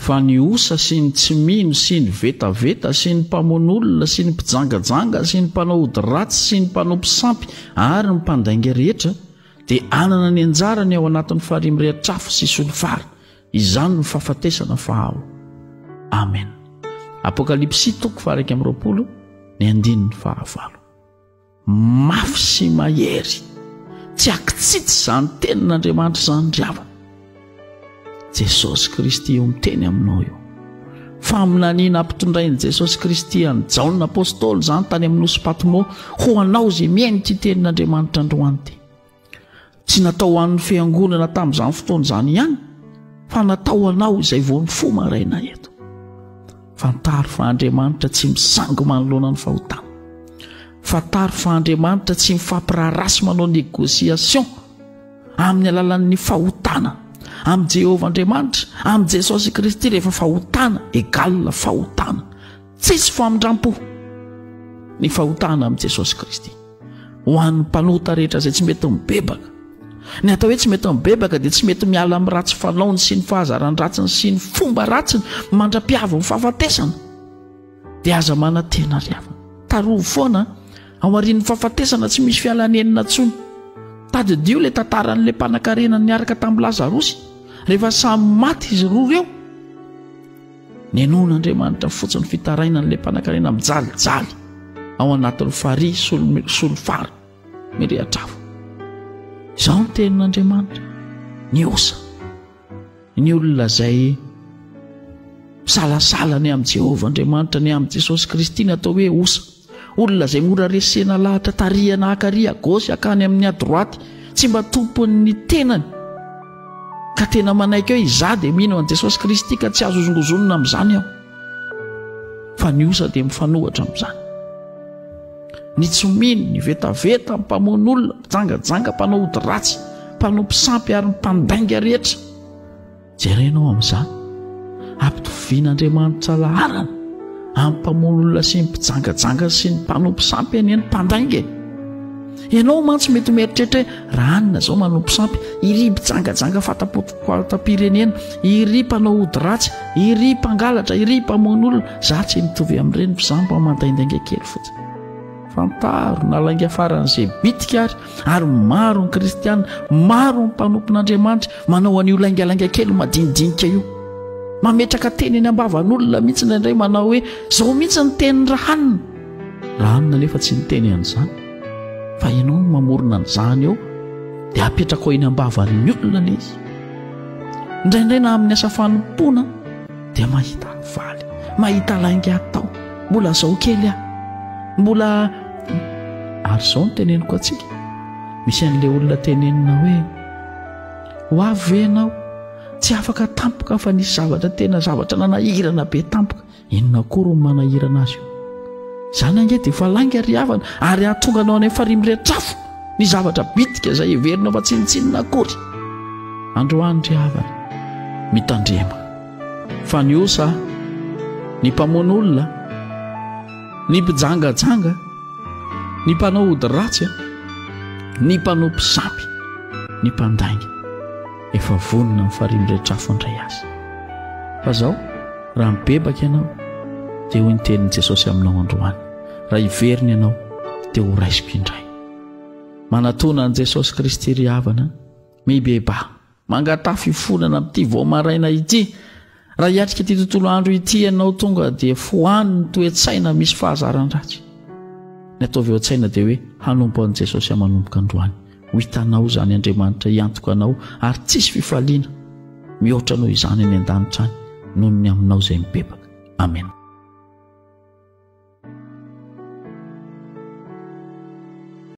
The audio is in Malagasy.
Fa ny osa sy ny tsy mino sy ny vetaveta sy ny mpamono olona sy ny mpijangajanga sy ny mpanao ody ratsy sy ny mpanompo sampy ary ny mpandainga rehetra dia hanana ny anjarany ao anatin'ny farihy mirehatr'afo sy solifara. Izany no fahafatesana fa ao. Amen. Apokalypsy toko faharaiky amin'ny roapolo ny andininy fahavalo. Mafy sy mahery. Tsy akitsitsy izany tenin'Andriamanitra izany ry havana. Jesosy Kristy io miteny aminao io. Faminaniana ampitondrain'i Jesosy Kristy an'i Jaona Apôstôly izany tany amin'ny nosy Patmo ho anao izay mihaino ity tenin'Andriamanitra androany ity. Tsy natao ho an'ny fiangonana tamin'izany fotoana izany ihany fa natao anao izay vao mifoha maraina eto. Fantaro fa Andriamanitra tsy misangy manoloana ny fahotana. Fantaro fa Andriamanitra tsy mifampiraharaha sy manao négociation amin'ny alalan'ny fahotana. Amin'i Jehovah Andriamanitra, amin'i Jesosy Kristy rehefa fahotana, égal fahotana. Tsisy famindrampo ny fahotana amin'i Jesosy Kristy ho an'ny mpanota rehetra izay tsy mety mibebaka. Ny atao hoe tsy mety mibebaka dia tsy mety miala amin'ny ratsy fanaony sy ny fahazaran-dratsiny sy ny fomba ratsiny mandra-pihavin'ny fahafatesana. Dia aza manantena ry havana. Tarovo foana ao aorian'ny fahafatesana tsy misy fialanenina intsony. Tadidio ilay tantaran'ilay mpanankarena niaraka tamin'i Lazarosy rehefa samy maty izy roa ireo. Nenoin'Andriamanitra fotsiny fitarainan'ilay mpanankarena mijalijaly ao anatin'ny farihy solifara mirehatra-afo. Izao ny tenin'Andriamanitra, ny osa, ny olona izay misalasala ny amin'i Jehovah Andriamanitra, ny amin'i Jesosy Kristy, ny atao hoe osa. Olona izay mora resena lahatra tarihana hakary à gauche hakany amin'ny à droite, tsy mba tompon'ny tenany ka tena manaiky hoe izaho dia mino an'i Jesosy Kristy ka tsy azo hozongozonina amin'izany aho. Fa ny osa dia mifanohitra amin'izany. Ny tsy mino, ny vetaveta, ny mpamono olona, mpijangajanga, mpanao ody ratsy, mpanompo sampy ary ny mpandainga rehetra. Jerena ao amin'izany, hampitovian'Andriamanitra laharana amin'ny mpamono olona sy ny mpijangajanga sy ny mpanompo sampy anie ny mpandainga e. Ianao mantsy mety mieritreritra hoe raha anona izao manompo sampy, iry mpijangajanga fatapotam-pirenena, iry mpanao ody ratsy, iry mpangalatra, iry mpamono olona, za tsy mitovy amin'ireny fa za mba mandaindainga kely fotsiny. Fantaro na lainga faran'izay bitika ary ary maro ny kristiana maro ny mpanompon'andriamanitra manao an'io laingalainga kely madinidinika io mametraka teny eny am-bavan'olona mihitsy na indray manao hoe zao mihitsy ny teny ra hanina raha hanina nefa tsy niteny an'izany fa ianao no mamorona an'izany eo dia apetraka o eny am-bavan'ny olona le izy indraindray na amin'ny asa fanompoana dia mahita ny valy mahita lainga atao mbola zao kely aho mbola ary izao ny teneniko antsika misy an'ilay olona tenenina hoe ho avy ve ianao tsy afaka tampoka fa nisy zavatra tena zavatra nanahirana be tampoka inona koa ro ny manahirana azy io izany ange dia efa lainga ry havana ary hahatonga anao any farimretrafo ny zavatra bitika izay heverinao fa tsinontsinona akory androany ry havana mitandrema fa ny osa ny mpamono olona Ny mpijangajanga, ny mpanao ody ratsy, ny mpanao mpisampy, ny mpandainga. Efa vonona amin'ny farihin'ny rehetra afo handray azy. Fa izao, raha mibebaka ianao, dia hoy ny tenin'i Jesosy aminao androany. Raha hiverina ianao, dia ho raisiko indray. Manatona an'i Jesosy Kristy ry havana, mibebaha. Mangataha fifonana amin'ity vao maraina ity. Raha hiatrika ity tontolo andro ity ianao tonga dia foano ny toe-tsaina misy fahazaran-dratsy. Ny ataovy eo an-tsaina dia hoe hanompo an'i Jesosy aho manomboka androany. Ho hitanao izany Andriamanitra hiantoka anao ary tsisy fifaliana mihoatra noho izany any an-danitra any noho ny aminao izay mibebaka. Amen.